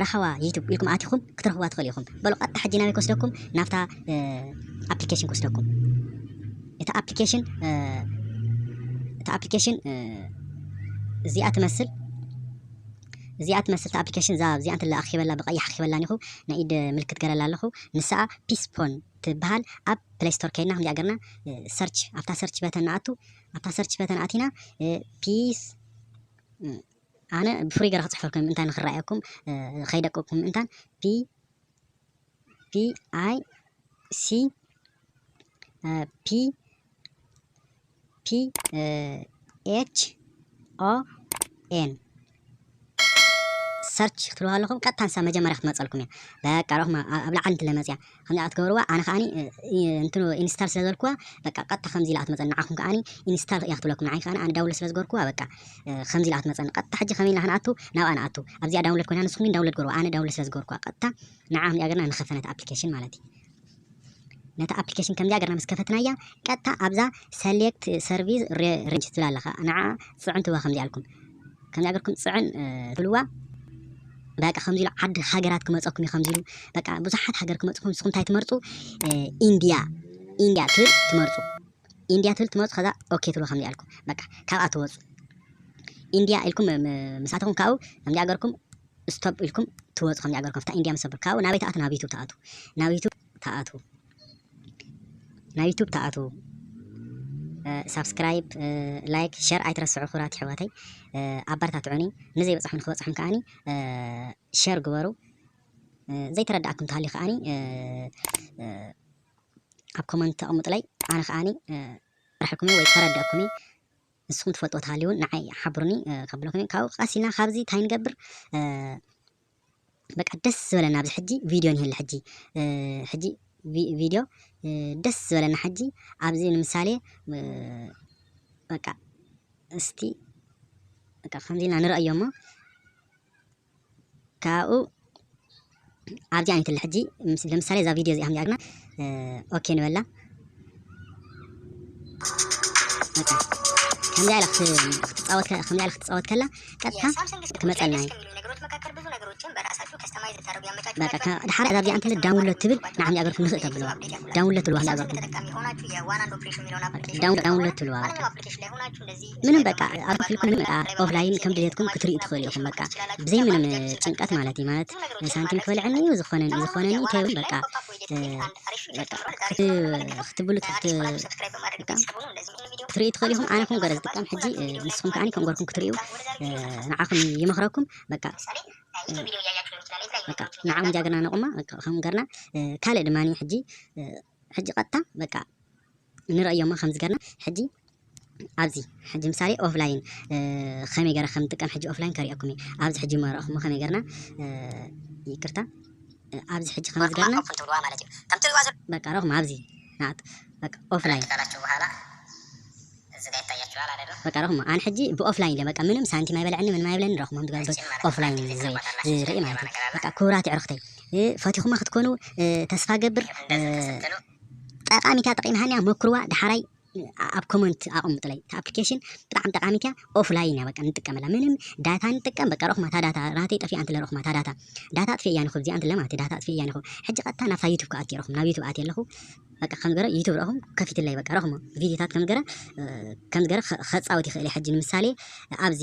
ራህዋ ዩቱብ ኢልኩም ኣቲኹም ክትረኽብዋ ትኽእሉ ኢኹም። በሉ ቀጥታ ሕጂ ናበይ ክወስደኩም ናብታ ኣፕሊኬሽን ክወስደኩም እቲ ኣፕሊኬሽን እቲ ኣፕሊኬሽን እዚኣ ትመስል እዚኣ ትመስል ኣፕሊኬሽን እዛ እዚኣ እንተላ ኣኺበላ ብቀይሕ ኣኺበላ ኒኹ ናይ ኢድ ምልክት ገረላ ኣለኹ ንስኣ ፒስፖን ትበሃል ኣብ ፕሌይ ስቶር ከይድና ከምዚኣ ገርና ሰርች ኣብታ ሰርች በተን ንኣቱ ኣብታ ሰርች በተን ኣቲና ፒስ ኣነ ብፍሩይ ገረ ክጽሕፈልኩም እንታ ንክራኣየኩም ከይደቀኩም ምእንታን ፒ ፒ ኣይ ሲ ፒ ፒ ኤች ኦ ኤን ሰርች ክትብልዋ ኣለኹም ቀጥታ ንሳ መጀመርያ ክትመፀልኩም እያ በቃ ረኹማ ኣብ ላዕሊ እንትለመፅያ ከምዚኣ ክትገብርዋ ኣነ ከኣ እንትኑ ኢንስታል ስለ ዝበልክዋ በቃ ቀጥታ ከምዚ ኢላ ክትመጸኒ ንዓኹም ከኣ ኢንስታል እያ ክትብለኩም ንዓይ ከኣ ኣነ ዳውንሎድ ስለ ዝገበርክዋ በቃ ከምዚ ኢላ ክትመጸኒ ቀጥታ ሕጂ ከመይ ኢልና ክንኣቱ ናብኣ ንኣቱ ኣብዚኣ ዳውንሎድ ኮይና ንስኹም ግን ዳውንሎድ ግበርዋ ኣነ ዳውንሎድ ስለ ዝገበርክዋ ቀጥታ ንዓ ከምዚኣ ገርና ንኸፈ ነቲ ኣፕሊኬሽን ማለት እዩ ነቲ ኣፕሊኬሽን ከምዚኣ ገርና ምስ ከፈትናያ ቀጥታ ኣብዛ ሰሌክት ሰርቪስ ሬንጅ ትብል ኣለኻ ንዓ ጽዕንትዋ ከምዚኣ ኣልኩም ከምዚ ኣገርኩም ጽዕን ትብልዋ በቃ ከምዚ ኢሉ ዓዲ ሃገራት ክመጸኩም እዩ ከምዚ ኢሉ በቃ ብዙሓት ሃገር ክመጽኩም ንስኹም እንታይ ትመርጹ ኢንድያ ኢንድያ ትብል ትመርጹ ኢንድያ ትብል ትመርጹ ከዛ ኦኬ ትብሉ ከምዚ ኣልኩም በቃ ካብኣ ትወጹ ኢንድያ ኢልኩም ምሳተኹም ካብኡ ከምዚ ኣገርኩም ስቶፕ ኢልኩም ትወጹ ከምዚ ኣገርኩም ፍታ ኢንድያ ምስ ካብኡ ናበይ ትኣቱ ናብ ዩቱብ ትኣቱ ናብ ዩቱብ ተኣትዉ ናብ ዩቱብ ተኣትዉ ሳብስክራይብ ላይክ ሸር ኣይትረስዑ ክብራት ይሕዋተይ ኣበረታትዑኒ ንዘይበፅሖ ንክበፅሖም ከዓኒ ሸር ግበሩ ዘይተረዳእኩም ተሃልዩ ከዓኒ ኣብ ኮመንት ተቐምጡለይ ኣነ ከዓኒ ራሕኩም ወይ ከረድአኩም ንስኩም ትፈልጥዎ ተሃልዩ ውን ንዓይ ሓብሩኒ ከብለኩም እየ ካብኡ ቀሲልና ካብዚ እንታይ ንገብር በቃ ደስ ዝበለና ኣብዚ ሕጂ ቪድዮ ንህሊ ሕጂ ሕጂ ቪድዮ ደስ ዝበለና ሕጂ ኣብዚ ንምሳሌ በቃ እስቲ በቃ ከምዚ ኢልና ንርእዮ እሞ ካብኡ ኣብዚ ዓይነት ለ ሕጂ ለምሳሌ እዛ ቪድዮ እዚኣ ጌርና ኦኬ ንበላ ከምዚ ኢላ ክትፃወት ከምዚ ኢላ ክትፃወት ከላ ቀጥታ ክመፀልና እዩ በቃ ድሓር እዛ ቪድዮ እንተለ ዳውንሎድ ትብል ንዓም ያገርኩም ንኽእ ተብለዋ ዳውንሎድ ትብለዋ ያገርኩም ዳውንሎድ ትብለዋ ምንም በቃ ኣብ ክፍልኩም በቃ ኦፍላይን ከም ድሌትኩም ክትሪኡ ትኽእሉ ኢኹም በቃ ብዘይ ምንም ጭንቀት ማለት እዩ ማለት ሳንቲም ክበልዐኒ እዩ ዝኾነ ዝኾነኒ ከይብል በቃ ክትብሉ ክትሪኡ ትኽእሉ ኢኹም ኣነ ኮንጎረ ዝጥቀም ሕጂ ንስኹም ከዓኒ ኮንጎርኩም ክትሪኡ ንዓኹም ይመኽረኩም በቃ በቃ ንዓኹም ጃግርና ነቑማ ከምኡ ገርና ካልእ ድማ ሕጂ ሕጂ ቀጥታ በቃ ንርእዮማ ከምዚ ገርና ሕጂ ኣብዚ ሕጂ ምሳሌ ኦፍላይን ከመይ ገረ ከም ንጥቀም ሕጂ ኦፍላይን ከርእየኩም እዩ ኣብዚ ሕጂ እሞ ረእኹሞ ከመይ ገርና ይቅርታ ኣብዚ ሕጂ ከምዚ ገርና በቃ ረኹም ኣብዚ ናት በቃ ኦፍላይን በቃ ረኹሞ ኣን ሕጂ ብኦፍላይን በቃ ምንም ሳንቲም ኣይበለዐኒ ምንም ኣይብለኒ ረኹሞ ዝገብር ኦፍላይን ዝርኢ ማለት እዩ በቃ ክቡራት ኣዕሩኽተይ ፈቲኹማ ክትኮኑ ተስፋ ገብር ጠቃሚታ ጠቂምሃኒ እያ ሞክርዋ ዳሓራይ ኣብ ኮመንት ኣቐምጡለይ እታ ኣፕሊኬሽን ብጣዕሚ ጠቃሚት እያ ኦፍላይን እያ በቃ ንጥቀመላ ምንም ዳታ ንጥቀም በቃ ረኹማ እታ ዳታ ናተይ ጠፊኣ እንተለ ረኹማ እታ ዳታ ዳታ ኣጥፊ እያ ንኹ እዚኣ እንተለ ማለት ዳታ ኣጥፊ እያ ንኹ ሕጂ ቀጥታ ናብታ ዩቱብ ክኣቲ ረኹም ናብ ዩቱብ ኣቲ ኣለኹ በቃ ከም ገረ ዩቱብ ረኹም ከፊትለይ በቃ ረኹሞ ቪዲዮታት ከም ገረ ከም ገረ ከጻወት ይኽእል ሕጂ ንምሳሌ ኣብዚ